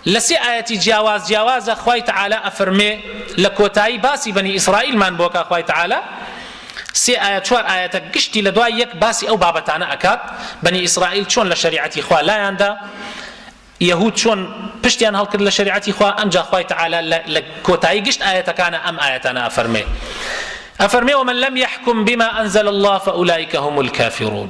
لە سێ ئایەتی جیاواز جیاوازە خوای تعالی ئەفەرمێ لە کۆتایی باسی بەنی ئیسرائیلمان بۆ کا خوای تعالی سێ ئایە چوار ئایەتە گشتی لە دوای یەک باسی ئەو بابەتانە ئەکات بەنی ئیسرائیل چۆن لە شریعەتی خوا لایاندا یهود چۆن پشتیان هەڵکرد لە شریعەتی خوا ئەمجا خوای تعالی لە کۆتایی گشت ئاەتەکانە ئەم ئاەتانە ئەفەرمێ ئەفەرمێ ومن لم يحكم بما أنزل الله فأولئك هم الكافرون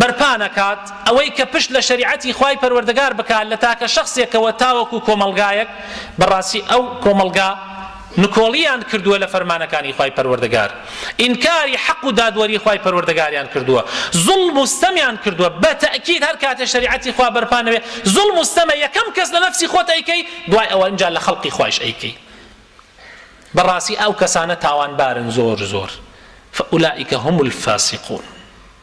بەرپا نەکات، ئەوەی کە پشت لە شەریعەتی خوای پەروەردگار بکات لە تاکە شەخسێکەوە تاوەکو کۆمەڵگایەک، بەڕاستی ئەو کۆمەڵگا نکۆڵییان کردووە لە فەرمانەکانی خوای پەروەردگار، ئینکاری حەق و دادوەری خوای پەروەردگاریان کردووە، زوڵم و ستەمیان کردووە، بە تەئکید هەر کاتێ شەریعەتی خوا بەرپا نەبێ زوڵم و ستەمە یەکەم کەس لە نەفسی خۆت ئەیکەی دوای ئەوە ئینجا لە خەڵقی خوایش ئەیکەی بەڕاستی ئەو کەسانە تاوانبارن زۆر زۆر فاولئک هم الفاسقون.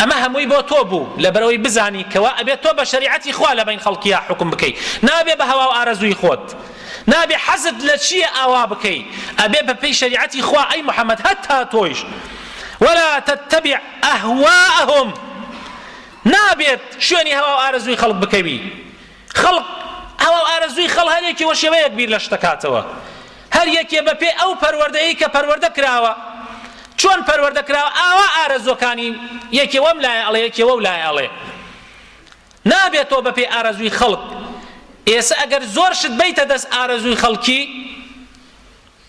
ئەمە هەمووی بۆ تۆ بوو لەبەرئەوەی بزانی کەوا ئەبێت تۆ بە شەریعەتی خوا لەبەین خەڵکیا حوکم بکەی نابێ بە هەواو ئارەزووی خۆت نابێ حەزت لە چیە ئاوا بکەی ئەبێ بە پێی شەریعەتی خوا ئەی محمد هەتا تۆیش ولا تتبع اهواءهم نابێت شوێنی هەواو ئارەزووی خەڵک بکەوی خەڵک، ئاوا و ئارەزووی خەڵ هەر یەکێ وەشێوەیەک بیر لە شت دەکاتەوە. هەر یەکێ بە پێی ئەو پەروەردەیەی کە پەروەردە کراوە، چۆن پەروەردە کراوە ئاوا ئارەزووەکانی یەکێ وەم لایە ئەڵێ یەکێ وەو لایە ئەڵێ. نابێتەوە بە پێی ئارەزووی خەڵک. ئێسە ئەگەر زۆر شت بەیتە دەست ئارەزووی خەڵکی،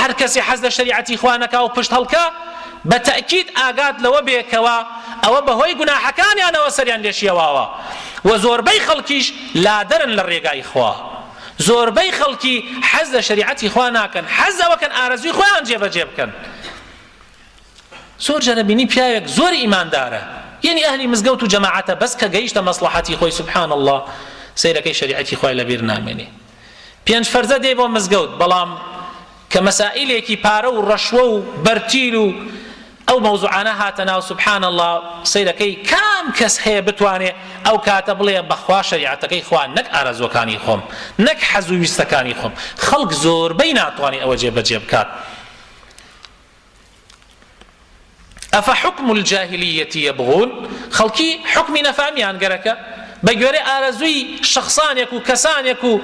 هەر کەسێ حەز لە شەریعەتی خوا نەکا و پشت هەڵکا، بە تەئکید ئاگات لەوە بێ کەوا ئەوە بە هۆی گوناحەکانیانەوە سەریان لێ شێواوە و زۆربەی خەڵکیش لادەرن لە رێگای خوا. زۆربەی خەڵکی حەز لە شەریعەتی خوا ناکەن، حەز لەوە کەن ئارەزووی خۆیان جێ بە جێ بکەن. زۆر جار ئەبینی پیاوێک زۆر ئیماندارە، یەنی ئەهلی مزگەوت و جەماعەتە بەس کە گەیشتە مەسڵەحەتی خۆی سبحان اللە سەیرەکەی شەریعەتی خوای لە بیر نامێنێ. پێنج فەرزە دێی بۆ مزگەوت بەڵام کە مەسائیلێکی پارە و ڕەشوە و بەرتیل و ئەو مەوزوعانە هاتە ناو سبحان الله سەیرەکەی کام کەس هەیە بتوانێ ئەو کاتە بڵێ بەخوا شەریعەتەکەی خوا نەک ئارەزوەکانی خۆم نەک حەز و ویستەکانی خۆم خەڵک زۆربەی ناتوانێ ئەوە جێبەجێ بکات افحکم الجاهلیە یبغون، خەڵکی حوکمی نەفامیان گەرەکە بە گوێرەی ئارەزووی شەخسانێک و کەسانێک و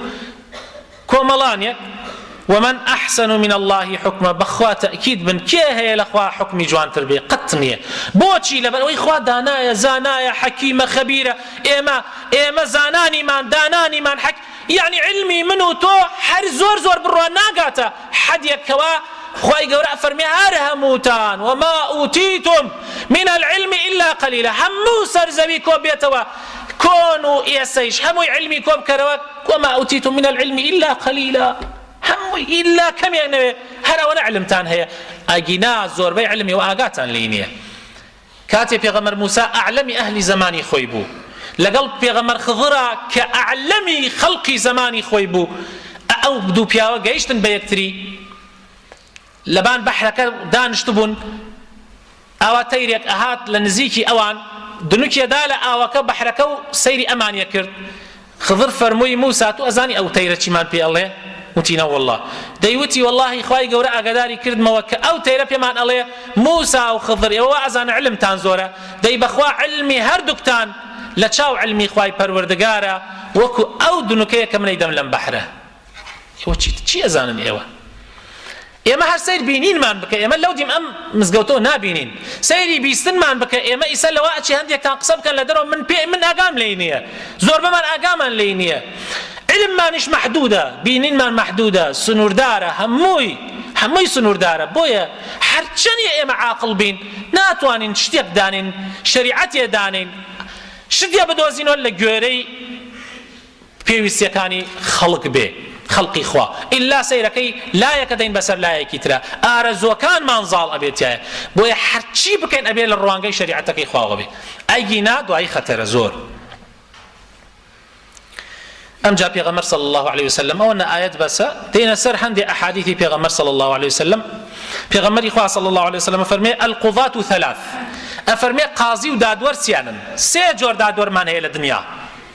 کۆمەڵانێک، ومن احسن من اللە حکما، بەخوا تەئکید بن کێ هەیە لە خوا حوکمی جوانتر بێ، قەت نیە، بۆچی لەبەرئەوەی خوا دانایە زانایە حەکیمە خەبیرە، ئێمە ئێمە زانانیمان دانانیمان حەک یەعنی عیلمی من و تۆ هەر زۆر زۆر بڕوا ناگاتە حەدێک کەوا خوای گەورە ئەفەرمێ هەر هەمووتان وما ئوتیتم من العلم الا قلیلا هەموو سەر زەوی کۆ بێتەوە کۆن و ئێسەیش هەمووی علمی کۆ بکەرەوە وما ئوتیتم من العلم الا قلیلا هەمووی ئیلا کەمێک نەوێ هەر ئەوەنە علمتان هەیە ئەگینا زۆربەی علمی و ئاگاتان لێی نییە کاتێ پێغەمبەر موسا اعلم اهل زمانی خۆی بوو لەگەڵ پێغەمبەر خضرا کە اعلم خەڵقی زەمانی خۆی بوو ئە ئەو دوو پیاوە گەیشتن بە یەکتری لەبان بەحرەکە دانشتبوون ئاوا تەیرێک ئەهات لە نزیکی ئەوان دنوکیەدا لە ئاوەکە بەحرەکە و سەیری ئەمانیە کرد خضر فەرمووی، موسا تۆ ئەزانی ئەو تەیرە چیمان پێ ئەڵێ؟ وتی، نەوەڵڵا. دەیوتی، وەڵڵاهی خوای گەورە ئاگاداری کردمەوە کە ئەو تەیرە پێمان ئەڵێ، موسا و خضر ئێوە وا ئەزانن عیلمتان زۆرە، دەی بەخوا عیلمی هەردووکتان لە چاو عیلمی خوای پەروەردگارە وەکو ئەو دنکەیە کە من ئەیدەم لەم بەحرە. تۆ چیت چی ئەزانن ئێوە ئێمە هەر سیر بینینمان بکە ئێمە لەو دیم ئەم مزگەوتەوە نابینین سەیری بیستنمان بکە ئێمە ئیسە لەوە ئەچی هەندێکتان قسە بکەن لە دەرەوە من پێ من ئاگام لێی نییە زۆربەمان ئاگامان لێی نییە علممانیش محدودە بینینمان محدودە سنووردارە هەمووی هەمووی سنووردارە بۆیە هەرچەنی ئێمە عاقل بین ناتوانین شتێک دانین شریعەتێ دانین شتێ بدۆزینەوە لە گوێرەی پێویستیەکانی خەڵک بێ خەڵقی خوا ئیلا سەیرەکەی لایەکە دەین بەسەر لایەکی ترا ئارەزوەکانمان زاڵ ئەبێ تیایە بۆیە هەرچی بکەین ئەبێ لە ڕوانگەی شەریعەتەکەی خواوە بێ ئەگینا دوایی خەتەرە زۆر ئەمجا پێغەمبەر صلی الله علیه وسلم ئەوە نە ئاەت بەسە دێنە سەر هەندێ ئەحادیثی پێغەمبەر صلی الله علیه وسلم پێغەمبەری خوا صلی الله علیه وسلم فەرمێ القضات ثلاث ئەفەرمێ قازی و دادوەر چیانن سێ جۆر دادوەرمان هەیە لە دنیا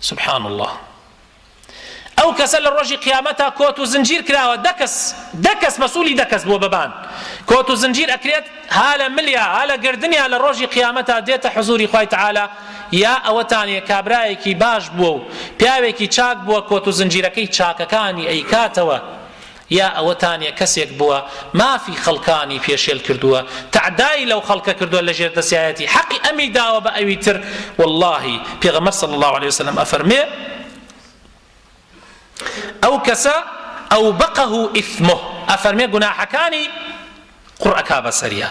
سبحان اللە ئەو کەسە لە ڕۆژی قیامەتا کۆت و زنجیر کراوە دە کەس دە کەس مەسولی دە کەس بووە بەبان کۆت و زنجیر ئەکرێت ها لە ملیا ها لە گردنیا لە ڕۆژی قیامەتا دێتە حزوری خوای تعالی یا ئەوەتانە کابرایەکی باش بووە و پیاوێکی چاک بووە کۆت و زنجیرەکەی چاکەکانی ئەیکاتەوە یا ئەوەتانە کەسێک بووە مافی خەڵکانی پێشێل کردووە تەعدای لەو خەڵکە کردووە لەژێر دەسیایەتی حەقی ئەمی داوە بە ئەوی تر وەڵاهی پێغەمبەر صلی اللە علیە وسلم ئەفەرموێ ئەو کەسە ئەوبقه اثمه ئەفەرمێ گوناحەکانی قڕ ئەکا بەسەریا